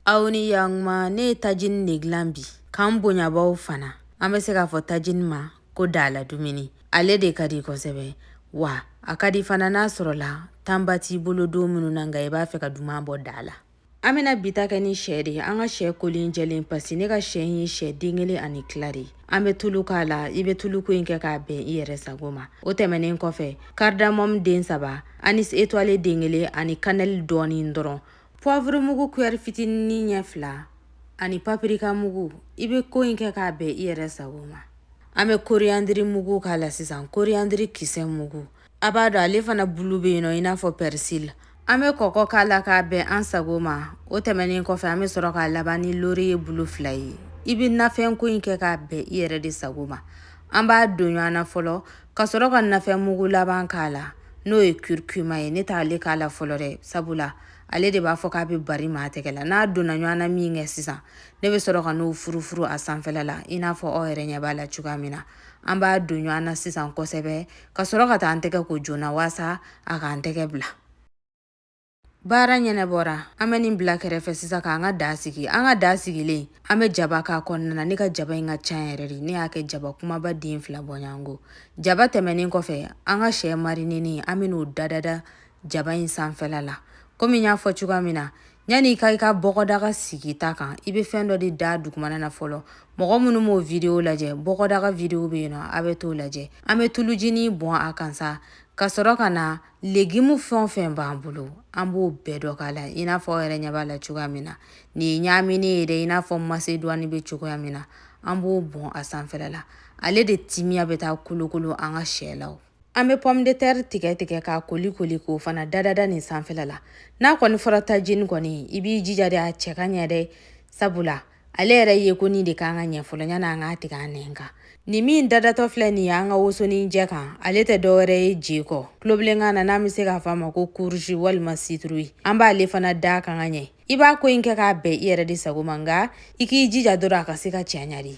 aw ni yantuma ne ye tajini de dilan bi kan bonyabaw fana an bɛ se k'a fɔ tajini ma ko dala dumuni ale de ka di kosɛbɛ wa a ka di fana n'a sɔrɔla tanba t'i bolo don minnu na nka i b'a fɛ ka duman bɔ da la an bɛna bi ta kɛ ni sɛ de ye an ka sɛ kolen jɛlen pasi ne ka sɛ ye sɛ den kelen ani tila de ye an bɛ tulu k'a la i bɛ tuluko in kɛ k'a bɛn i yɛrɛ sago ma o tɛmɛnen kɔfɛ karidamɔmu den saba anis étoilé den kelen ani kanɛli dɔɔnin dɔrɔn Poivre mugu kuyɛri fitinin ɲɛ fila ani papirika mugu i bɛ ko in kɛ k'a bɛn i yɛrɛ sago ma an bɛ koriyandiri mugu k'a la sisan koriyandiri kisɛ mugu a b'a dɔn ale fana bulu bɛ yen nɔ i n'a fɔ pɛrisili an bɛ kɔkɔ k'a la k'a bɛn an sago ma o tɛmɛnen kɔfɛ an bɛ sɔrɔ k'a laban ni loriye bulu fila ye i bɛ nafɛnko in kɛ k'a bɛn i yɛrɛ de sago ma an b'a don ɲɔgɔn na fɔlɔ ka sɔrɔ ka nafɛn mugu laban k'a la n'o ye kurukuma ye ne t'ale k'a la fɔlɔ dɛ sabula ale de b'a fɔ k'a bɛ bari maa tɛgɛ la n'a donna ɲɔgɔn na min kɛ sisan ne bɛ sɔrɔ ka n'o furufuru a sanfɛla la i n'a fɔ aw yɛrɛ ɲɛ b'a la cogoya min na an b'a don ɲɔgɔn na sisan kosɛbɛ ka sɔrɔ ka taa an tɛgɛ ko joona waasa a k'an tɛgɛ bila Baara ɲɛnabɔra an bɛ nin bila kɛrɛfɛ sisan k'an ka da sigi an ka da sigilen an bɛ jaba k'a kɔnɔna na ne ka jaba in ka ca yɛrɛ de ne y'a kɛ jaba kumaba den fila bɔɲɔgɔnko jaba tɛmɛnen kɔfɛ an ka sɛ marinenen an bɛ n'o dadada jaba in sanfɛla la komi y'a fɔ cogoya min na yanni ka i ka bɔgɔdaga sigi ta kan i bɛ fɛn dɔ de da dugumana na fɔlɔ mɔgɔ minnu m'o video lajɛ bɔgɔdaga video bɛ yen nɔ a bɛ t'o lajɛ an bɛ tulujinin bɔn a kan sa ka sɔrɔ ka na legimu fɛn o fɛn b'an bolo an b'o bɛɛ dɔ k'a la i n'a fɔ aw yɛrɛ ɲɛ b'a la cogoya min na nin ye ɲaaminen ye dɛ i n'a fɔ masedɔni bɛ cogoya min na an b'o bɔn a sanfɛla la ale de timiya bɛ taa kolokolo an ka sɛ la an bɛ pomme de terre tigɛ tigɛ k'a koli koli k'o fana dadada nin sanfɛla la n'a kɔni fɔra tajini kɔni i b'i jija de a cɛ ka ɲɛ dɛ sabula ale yɛrɛ yeko nin de ka kan ka ɲɛ fɔlɔ ɲani an k'a tigɛ an nɛn kan nin min dadatɔ filɛ nin ye an ka wosonin jɛ kan ale tɛ dɔwɛrɛ ye je kɔ tulobilenkan na n'an bɛ se k'a fɔ a ma ko kuruzi walima situruyi an b'ale fana d'a kan ka ɲɛ i b'a ko in kɛ k'a bɛn i yɛrɛ de sago ma nka i k'i jija dɔrɔn a ka se ka cɛɲa dɛ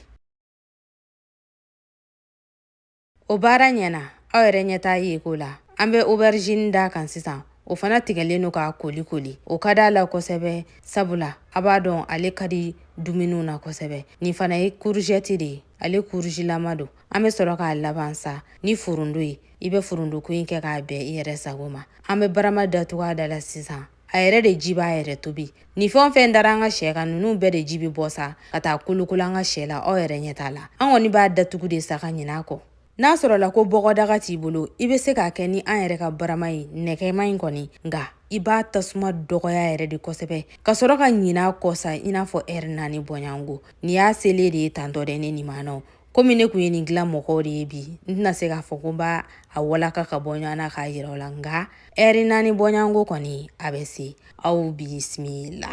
O baara ɲɛna aw yɛrɛ ɲɛ t'a yeko la an bɛ oberizini d'a kan sisan o fana tigɛlen don k'a koli koli o ka d'a la kosɛbɛ sabula a b'a dɔn ale ka di dumuniw na kosɛbɛ nin fana ye kuruzɛti de ye ale kuruzilama don an bɛ sɔrɔ k'a laban sa ni forondo ye i bɛ forondoko in kɛ k'a bɛn i yɛrɛ sago ma an bɛ barama datugu a da la sisan a yɛrɛ de ji b'a yɛrɛ tobi nin fɛn o fɛn dara an ka sɛ kan ninnu bɛɛ de ji bɛ bɔ sa ka taa kolokolo an ka sɛ la aw yɛrɛ ɲɛ t'a la an kɔni b'a datugu de sa ka ɲin'a kɔ n'a sɔrɔla ko bɔgɔdaga t'i bolo i bɛ se k'a kɛ ni an yɛrɛ ka barama ye nɛgɛman in kɔni nka i b'a tasuma dɔgɔya yɛrɛ de kosɛbɛ ka sɔrɔ ka ɲin'a kɔ sa i n'a fɔ ɛri naani bɔɲɔgɔnko nin y'a selen de ye tantɔ dɛ ne nin maanaw komi ne kun ye nin dilan mɔgɔw de ye bi n tɛna se k'a fɔ ko n b'a a walaka ka bɔ ɲɔgɔn na k'a yira aw la nka ɛri naani bɔɲɔgɔnko kɔni a bɛ se aw bisimila